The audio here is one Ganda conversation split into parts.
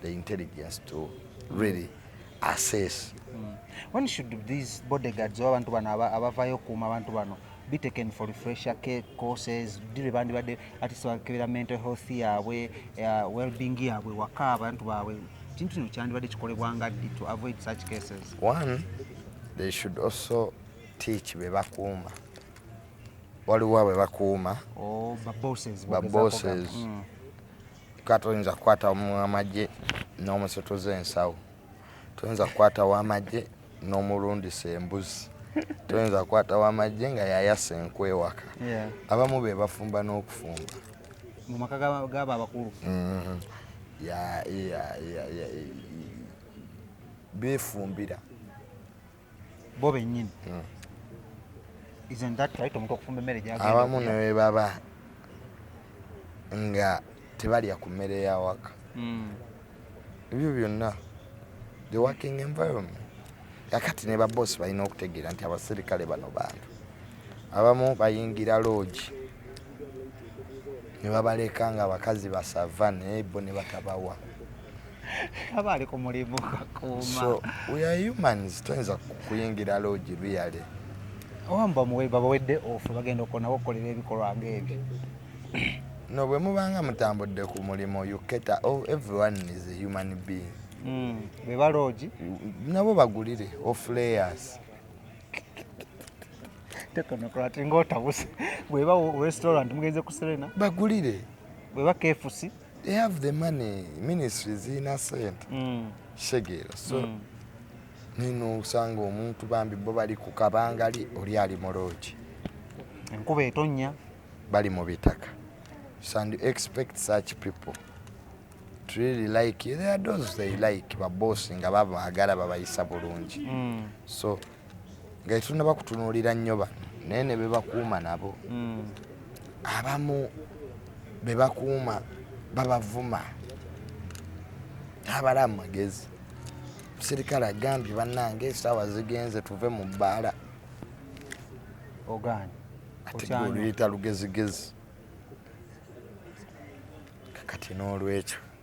the intelligence to really assess mm. when should these bodyguards oba abantu bano abavayo okuuma abantu bano be taken for refresher care courses dire bandibadde atisi bakebera mental health yaabwe uh, wellbeing yaabwe waka abantu baabwe kintu kino kyandibadde kikolebwa nga ddi to avoid such cases one they should also teach be bakuuma waliwo abe bakuuma oh, babosses mm. Kika toyinza kukwata mu amagye n'omusutuza ensawo, toyinza kukwata wa amagye n'omulundisa embuzi, toyinza kukwata wa amagye nga yayasa enku ewaka. Abamu be bafumba n'okufumba mu maka g'abo abakulu. Mm-hmm. Beefumbira. bo bennyini hmm. isn't that right omuntu okufumba emmere gyagenda abamu ne bwe baba nga tebalya ku mmere ya waka hmm. ebyo byonna the working environment kakati ne babosi balina okutegeera nti abaserikale bano bantu abamu bayingira loogi ne babaleka nga abakazi basava naye bo ne batabawa aba ali ku mulimu kakuuma tuyinza kuyingira loogi luyale owamba muwe babawedde ofu bagenda okonabo okukolera ebikolwa ng'ebyo no bwe mubanga mutambudde ku mulimu uketa oh, everyone is a human being hmm, be baloogi nabo bagulire oflayers tekonokola ati ngaotabuse bweba restaurant mugenze ku serena bagulire bweba kefusi they have the money ministry zirina sente mm. kitegeera so mm. nino osanga omuntu bambi bo bali ku kabangali oli ali mu loogi enkuba etonnya bali mu bitaka so and expect such people to really like you. there are those they like babosi nga babaagala babayisa bulungi mm. so nga tetunaba kutunuulira nnyo bano naye ne bebakuuma nabo hmm. abamu bebakuuma babavuma tabala amagezi omusirikale agambye bannange esaawa zigenze tuve mu bbaala ogaani ategeoluyita lugezigezi kakati n'olwekyo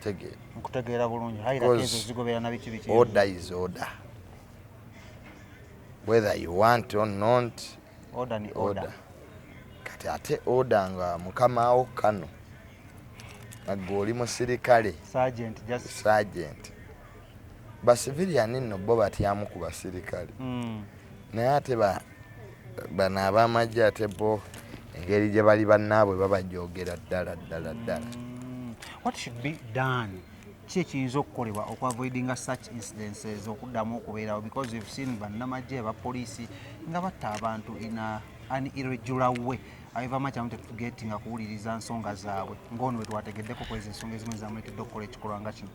tegeera nkutegeera bulungi order is order whether you want or not order ni order, order. kati ate order nga mukamawo kano nagwe oli musirikale sergeant, just... sergeant. ba civilian nno bo batyamu ku basirikale mm. naye ate bano abamagye ate bo engeri gye bali bannaabwe babajogera ddala ddala ddala mm. what should be done ki ekiyinza okukolebwa okuavoidinga such incidences okuddamu okubeerawo because we've seen bannamagye aba poliisi nga batta abantu in an irregular way abevama kyamu tetugetinga kuwuliriza nsonga zaabwe ngaono wetwategeddeko kwezi ensonga ezimu ezamuletedde okukola ekikolwa nga kino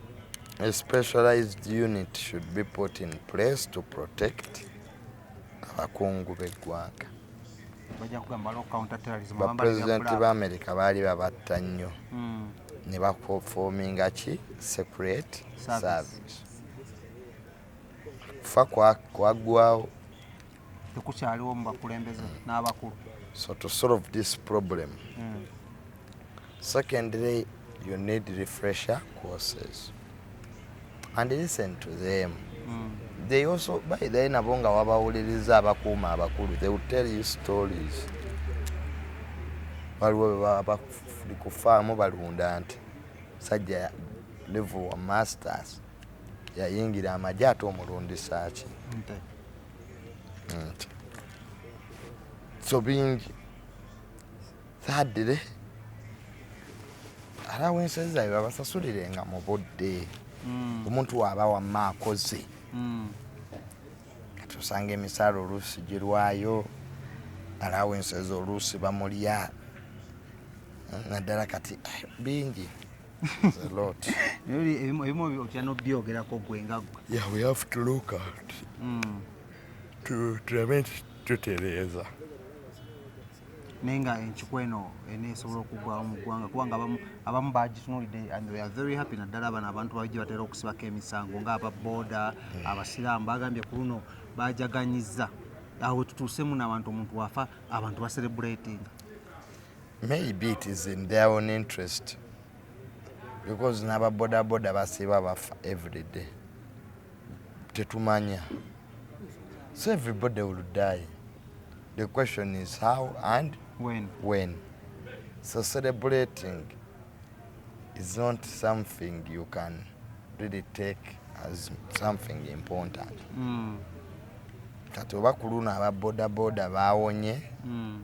A specialized unit should be put in place to protect abakungu b'eggwanga. Bapulezidenti ba Amerika baali babatta nnyo hmm. ne bafoominga ki secret service. Kufa kwaggwawo tekukyaliwo mu bakulembeze n'abakulu so to solve this problem mm. secondly you need refresher courses and listen to them mm. they also by the nabo nga wabawuliriza abakuuma abakulu they will tell you stories waliwo bebabafuli kufaamu balunda nti sajja level wa masters yayingira amagye ate omulundisa ki nti so bingi saadire ara wensozi zabe babasasulire nga mu budde mm. omuntu waaba wamma akoze mm. kati osanga emisaala oluusi girwayo ara wensozi oluusi bamulya naddala kati eh, bingi ebimu otya nobyogerako gwe nga tulabe nti tutereeza naye nga enkiko eno eneesobola okugwawo mu ggwanga kubanga abamu bagitunulidde and we are very happy naddala abano abantu baji batera okusibako emisango nga ababooda hmm. abasiraamu bagambye ku luno bajaganyiza awo tutuusemu n'abantu omuntu wafa abantu baserebulatinga Maybe it is in their own interest because naba boda boda basiba bafa every day tetumanya so everybody will die the question is how and when, when. so celebrating is not something you can really take as something important mm. kati oba ku luno aba bodaboda bawonye mm.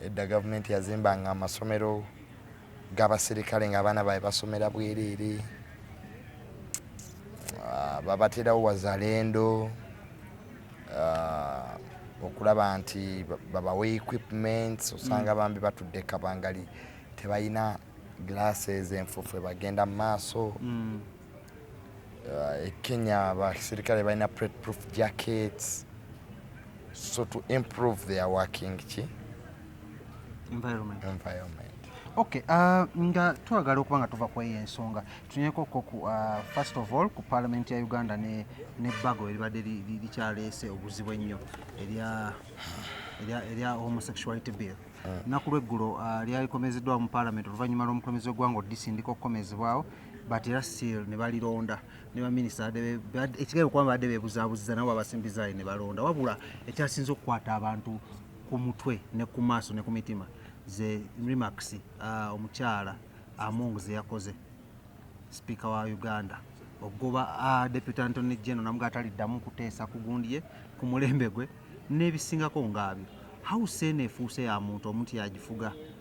Edda gavumenti yazimbanga amasomero g'abaserikale ng'abaana baabwe basomera bwereere, ah, babaterawo wazalendo ah, okulaba nti babawa equipments osanga mm. bambi batudde kabangali tebalina glasses enfufu ebagenda mu maaso mm. uh, e kenya abaserikale balina plate proof jackets so to improve their working ki environment, environment. Okay, uh, nga twagala okuba nga tuva kweyo ensonga tunyeko ko ku uh, first of all ku parliament ya uganda ne, ne bago eribadde likyaleese obuzibu ennyo erya erya homosexuality bill uh. naku lweggulo uh, lyalikomezeddwa mu parliament oluvannyuma lw'omukulembeze w'eggwanga odisindika okukomezebwawo uh, but era still ne balironda ne baminisita ekigenda okuba badde bebuzabuziza nabo babasimbizaali ne balonda wabula ekyasinza okukwata abantu ku mutwe ne ku maaso ne ku mitima ze remax uh, omukyala among ze yakoze sipiika wa uganda okugoba uh, deputy antony geno namuga ataliddamu kuteesa ku gundi ye ku mulembe gwe n'ebisingako ngaabyo hawuse eno efuuse ya muntu omuntu yagifuga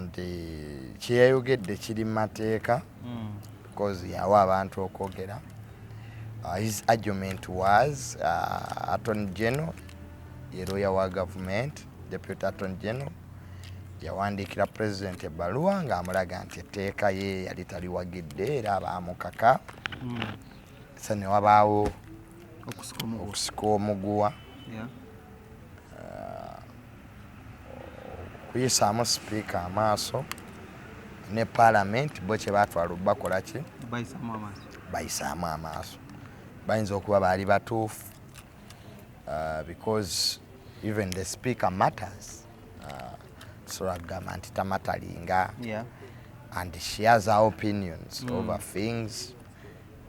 nti kyeyayogedde kiri mu mateeka hmm. because yawa abantu okwogera uh, his argument was uh, attorney general ye lawyer wa government deputy attorney general yawandiikira president ebbaluwa ng'amulaga nti etteeka ye yali taliwagidde era baamukaka hmm. sa ne wabaawo okusika omuguwa kuyisaamu sipiika amaaso ne palamenti bo kye baatwala okubakola ki bayisaamu amaaso bayinza okuba baali batuufu uh, because even the speaker matters uh, tusobola kugamba nti tamatalinga and she has her opinions mm. over things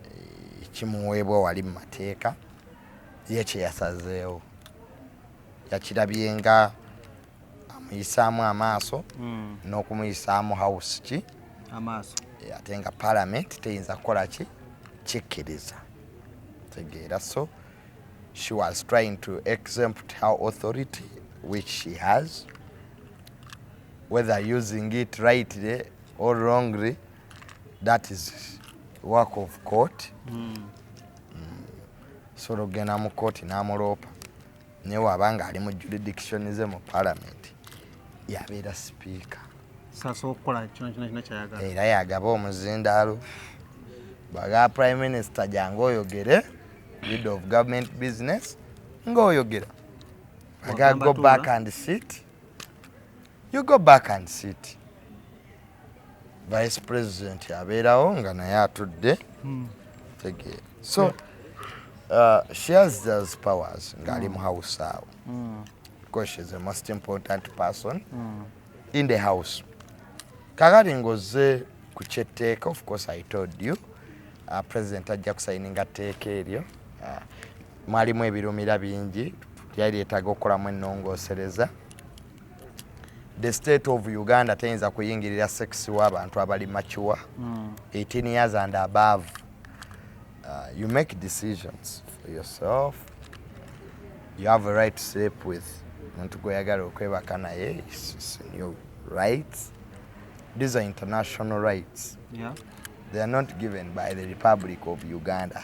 eh, kimuweebwa wali mu mateeka ye kyeyasazeewo yakirabye nga amuyisaamu amaaso mm. n'okumuyisaamu house ki amaaso eh, ate nga palamenti teyinza kukola ki kikkiriza tegeera so she was trying to exempt her authority which she has whether using it rightly or wrongly that is work of court mm. Mm. so logenda mu kooti n'amuloopa naye waba nga ali mu jurisdiction ze mu parliament yabeera sipiika era yagaba omuzindaalo baga prime minister jangu oyogere lead of government business nga oyogera aga go back and sit you go back and sit vice president abeerawo nga naye atudde hmm. tegeera so uh, she has those powers ng'ali mu house awo hmm. because she's the most important person hmm. in the house kakati ng'ozze ku kyetteeka of course i told you uh, president ajja kusayininga tteeka eryo uh, mwalimu ebirumira bingi lyali lyetaaga okukolamu ennongoosereza the state of uganda teyinza kuyingirira sex w'abantu abali macuwa 18 hmm. years and above uh, you make decisions for yourself you have a right to sleep with muntu gweyagala okwebaka naye new rights these are international rights yeah. they are not given by the republic of uganda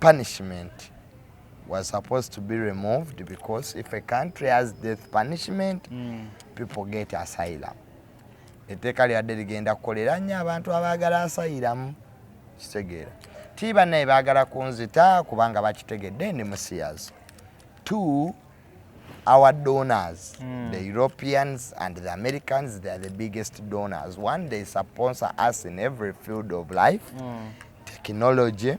punishment was supposed to be removed because if a country has death punishment mm. people get asylum etteeka lyabadde ligenda kukolera nnyo abantu abaagala asayiramu kitegeera ti bannaye baagala kunzita kubanga bakitegedde ndi musiyazi t our donors mm. the europeans and the americans they are the biggest donors one day sponsor us in every field of life mm. technology mm.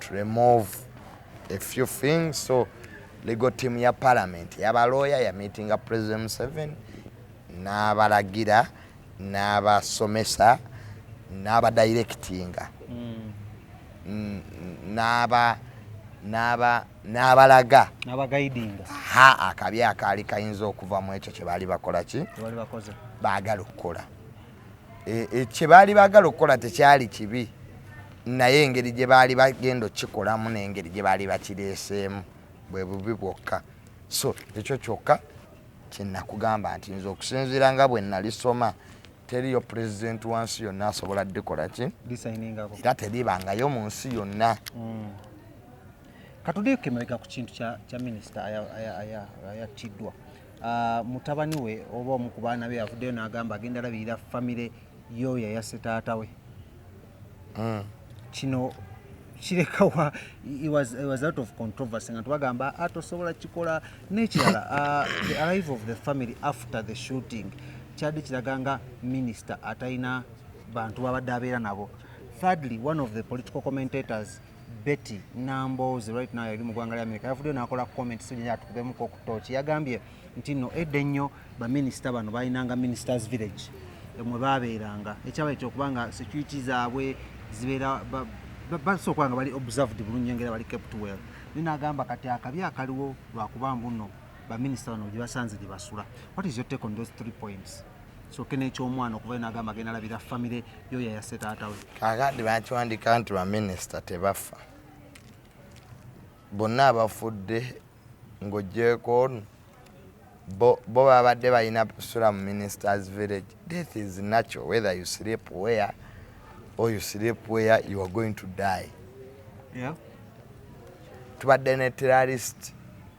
to remove a few things so legal team ya parliament yaba lawyer ya meeting ya president Museveni n'abalagira n'abasomesa n'abadirectinga mm. n'aba n'aba n'abalaga n'abagaidinga ha akabi akaali kayinza okuva mu ekyo kye baali bakola ki baagala okukola E, e, kye baali baagala okukola tekyali kibi naye engeri gye baali bagenda okukikolamu n'engeri gye baali bakireeseemu bwe bubi bwokka so ekyo kyokka kyenakugamba nti nze okusinziira nga bwe nalisoma teriyo president wa nsi yonna asobola dikola ki era teribangayo mu nsi yonna hmm. katudekemabega ku kintu kya minisita ayattiddwa Uh, mutabani we oba omu ku baana be avuddeyo n'agamba agenda labirira famire y'oyo yayasse taata we hmm. kino kirekawa was, was out of controversy nga tubagamba ah, tosobola kikola n'ekirala uh, the arrive of the family after the shooting kyadde kiraga nga minisita atalina bantu babadde abeera nabo thirdly one of the political commentators Betty Nambooze right now yali mu gwanga lya Amerika yavuddeyo n'akola comment so gyenyala tukubemuko ku tooki yagambye nti no edda ennyo baminisita bano balinanga ministers village mwe baabeeranga ekyabaye kyokuba nga security zaabwe zibeera basooka nga bali observed bulungi engera bali kept well naye n'agamba kati akabi akaliwo lwakuba mbuno baminisita bano gye basanze gye basula what is your take on those three points soke n'ekyomwana okuva eno agamba genda labira famire yo yayase taata we kakati bakiwandika nti baminisita tebafa bonna abafudde ng'ogyeko ono bo babadde balina sula mu ministers village death is natural whether you sleep where or you sleep where you are going to die yeah. tubadde ne terrorist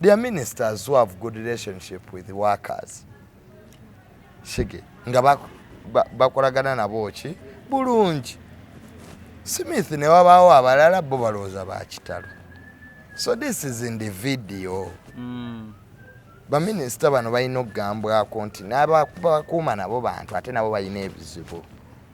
Their ministers who have good relationship with workers shige nga bakolagana ba, ba nabo ki bulungi Smith ne wabaawo abalala bo balowooza ba kitalo so this is in the video mm. baminisita bano balina okugambwako nti nabakuuma nabo bantu ate nabo balina ebizibu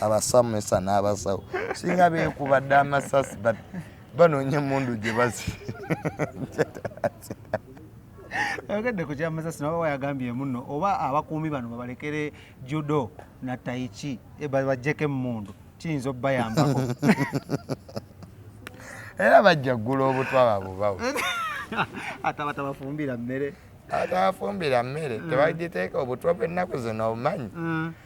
abasomesa n'abasawo singa beekuba dda amasasi but banoonya emundu gye bazi ayogedde ku kyamasasi naba wayagambye muno oba abakuumi bano babalekere judo na taiki eh, bajjeko emundu kiyinza obubayambako era bajja ggula obutwa babubawo atabatabafumbira mmere atabafumbira mmere mm. tebagiteeka obutwa bw'ennaku zino obumanyi mm.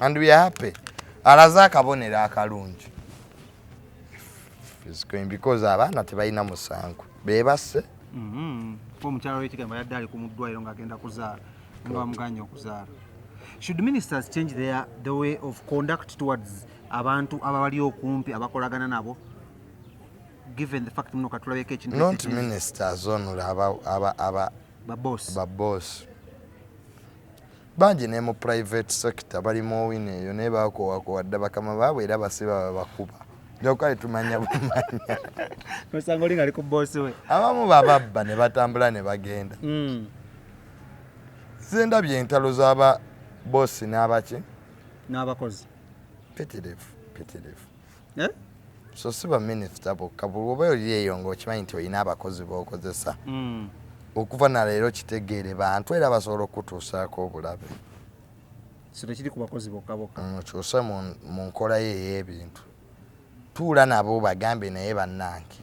and we are happy alaze akabonero akalungi because abaana tebalina musango bebasse mm-hmm. omukyalo wekigamba yadde ali kumuddwairo ngaagenda kuzaala nga bamuganye okuzaala should ministers change their, the way of conduct towards abantu ababali okumpi abakolagana nabo given the fact muno katulabeko ekintu not ministers only aba aba aba baboss baboss Bangi ne mu private sector bali mu owino eyo naye bakowakowa dda bakama baabwe era basiba babakuba. Jokali tumanya bumanya. Nosanga oli ngali ku boss we. Abamu bababba ne batambula ne bagenda. Mm. Zenda byentalo zaba boss n'abaki? N'abakozi. Petelevu, petelevu. eh? so si baminisita bokka bwoba oli eyo nga okimanyi nti olina abakozi bokozesa mm. okuva naleero kitegeere bantu era basobola okukutuusaako obulabe sitekiri ku bakozi bokka bokka mukyuse mm, mu nkolayo ey'ebintu tuula nabo bagambe naye bannange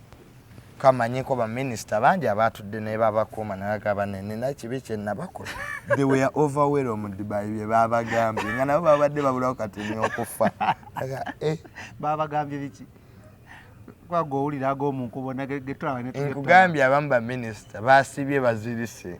Ka manyeko ba minister bangi abaatudde n'ebabakuuma ne bagamba ne nina ekibi kye nnabakola. They were overwhelmed by bye baabagambye nga nabo baabadde babulawo kati n'okufa. Aga eh. Baabagambye biki? Kuba gwe owulira ag'omu nkuubo nage ge tulaba ne tuge. Nkugambye abamu ba minister baasibye bazirise.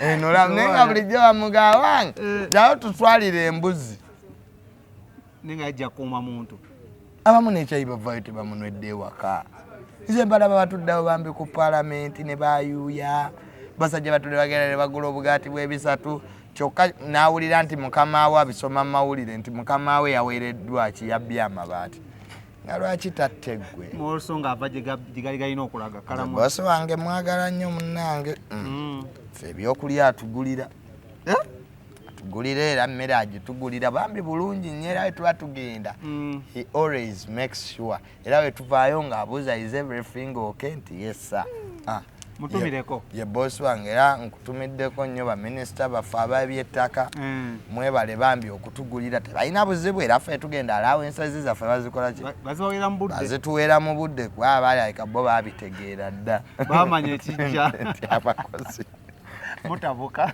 eno laba naye nga bulijjo bamugawange jawo eh. tutwalire embuzi nenga ajja kuuma muntu abamu nekyayi bavayo tebamunwedde ewaka nze mbalaba batuddawo bambi ku palamenti ne bayuuya basajja batudde bagenda ne bagula obugaati bwebisatu kyokka n'awulira nti mukama we abisoma mu mawulire nti mukama we yaweereddwa ki yabbye amabaati nga lwaki tatte gwe olso nga ava gyegali galina okulaga kalabasi wange mwagala nnyo munnange mm. mm. fe ebyokulya atugulira eh? atugulira era mmere agitugulira bambi bulungi nnyo era wetuba tugenda mm. he always makes sure era wetuvaayo ng'abuuza is everything ok nti yesa ah. mutumireko ye boss wange era nkutumiddeko nnyo baminisita baffe ababyettaka mm. mwebale bambi okutugulira tebalina buzibu era ffe tugenda alaawo ensazi zaffe bazikola kibazituweera mu budde kuba abaalalika bo babitegeera dda bamanya ekijja nti abakozi mutabuka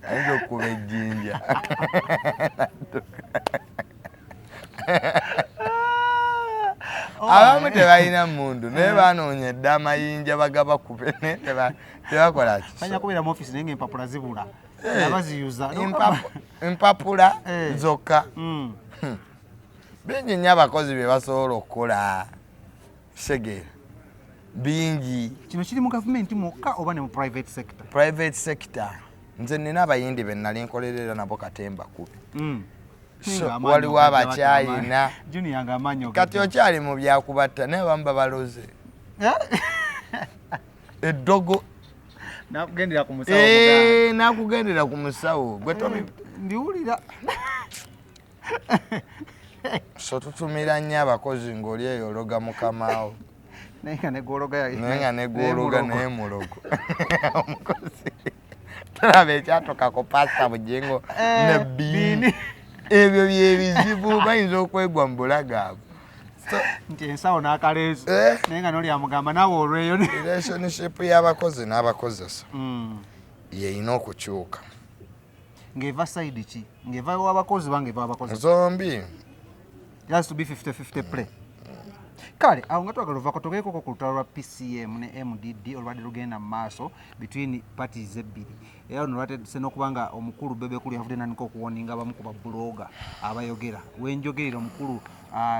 ayinza okukuba ejjinja Oh, abamu eh. tebalina mundu naye eh. banoonya edda amayinja bagaba kube tebakola kisoempapula zibula eh. abaziyuza empapula zokka hmm. Hmm. bingi nnyo abakozi bye basobola okukola Segera. Bingi. Kino kiri mu gavumenti mwokka oba ne mu private sector? Private sector. Nze nina abayindi be nali nkolerera nabo katemba kubi. Mm. So, waliwo abakyayina. Junior nga amanyo. Kati okyali mu byakubatta naye bamba baloze. Eh? Eddogo. Nakugendera ku musawo. Eh, nakugendera ku musawo. Gwe tomi. Eh, ndiwulira. so tutumira nnyo abakozi ng'oli eyo ologa mukamaawo naye nga negwologa naye nga negwologa naye mulogo omukozi tulaba ekyatokako pasita bujingo eh, ne biini ebyo byebizibu bayinza okwegwa mu bulagaavu nti ensawo n'akaleezi eh? naye nga noli amugamba nawe olweyo relationship y'abakozi n'abakozesa mm. yeyina okukyuka ng'eva side ki ng'eva wabakozi bange eva wabakozi zombi it has to be 50 50 play kale awo nga twagala ovako togeekoko ku lutalo lwa pcm ne mdd olubadde lugenda mu maaso between parties ebbiri era luno lwatedise n'okuba nga omukulu bebekulu yavudde nanika okuwoninga abamu ku babuloga abayogera wenjogerera omukulu ah,